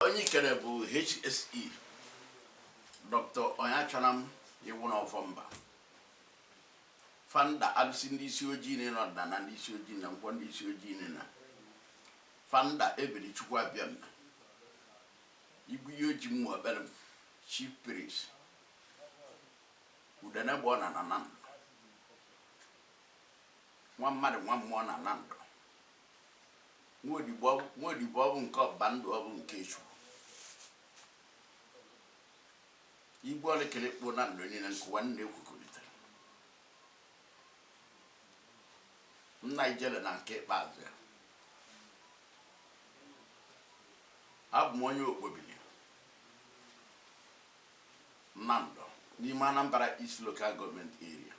onye ikere bụ HSE Dr. Onyeachọnam Iwunọ Ọfọmba founder abisi ndị isi ojii na ọdịnana ndị isi ojii na nkwọ ndị isi ojii na na founder ebere chukwu abịama ibu ihe oji mmụ ekpere m chief priest udene bụ ọ na na Nando nwa mmadụ nwa mmụọ na Nando nwa odibo nwa odibo ọ bụ nke ọba ndụ ọ bụ nke Chukwu Igwe ọlịkịlị kpụ Nando niile nkụwa nna ekwukọrịtara nna ijele na nke ikpeazụ ya abụ m onye okpobili Nando n'ime Anambra East Local Government Area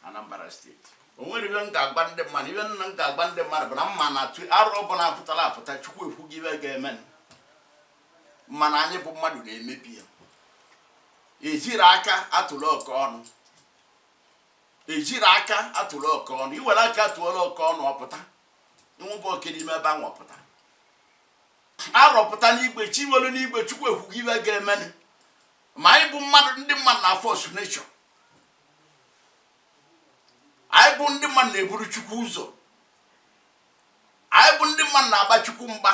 Anambra State o nwere ibe m ga-agwa ndị mmadụ ibe nna m ga-agwa ndị mmadụ bụ na mma na atụ arụ ọbụla apụtara apụta chukwu ekwugo ibe ga-eme mana anyị bụ mmadụ na-emebi ya ejirọ aka atụrụ oke ọnụ ejirọ aka atụrụ oke ọnụ i were aka tụọlụ oke ọnụ ọpụta nwụbụ oke n'ime ebe ahụ ọpụta arọpụta n'igwe chi nwere n'igwe chukwu ekwugo ibe ga-emenụ ma anyị bụ mmadụ ndị mmadụ na-force nature anyị bụ ndị mmadụ na-eburu chukwu ụzọ anyị bụ ndị mmadụ na-agba chukwu mgba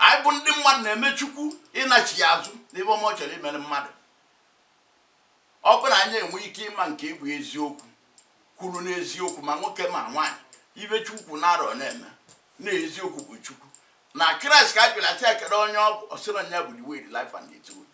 anyị bụ ndị mmadụ na-eme chukwu ịnachi ya azụ n'ibe ọma ọ chọrọ imere mmadụ ọ bụrụ na anyị enwee ike ịma nke bụ eziokwu kwụrụ n'eziokwu ma nwoke ma nwaanyị ibe chukwu na-arọ na-eme na eziokwu bụ chukwu na kraịst ka a bịara sị ekele onye ọ bụ ọ sịrị ya bụ the way the life and the truth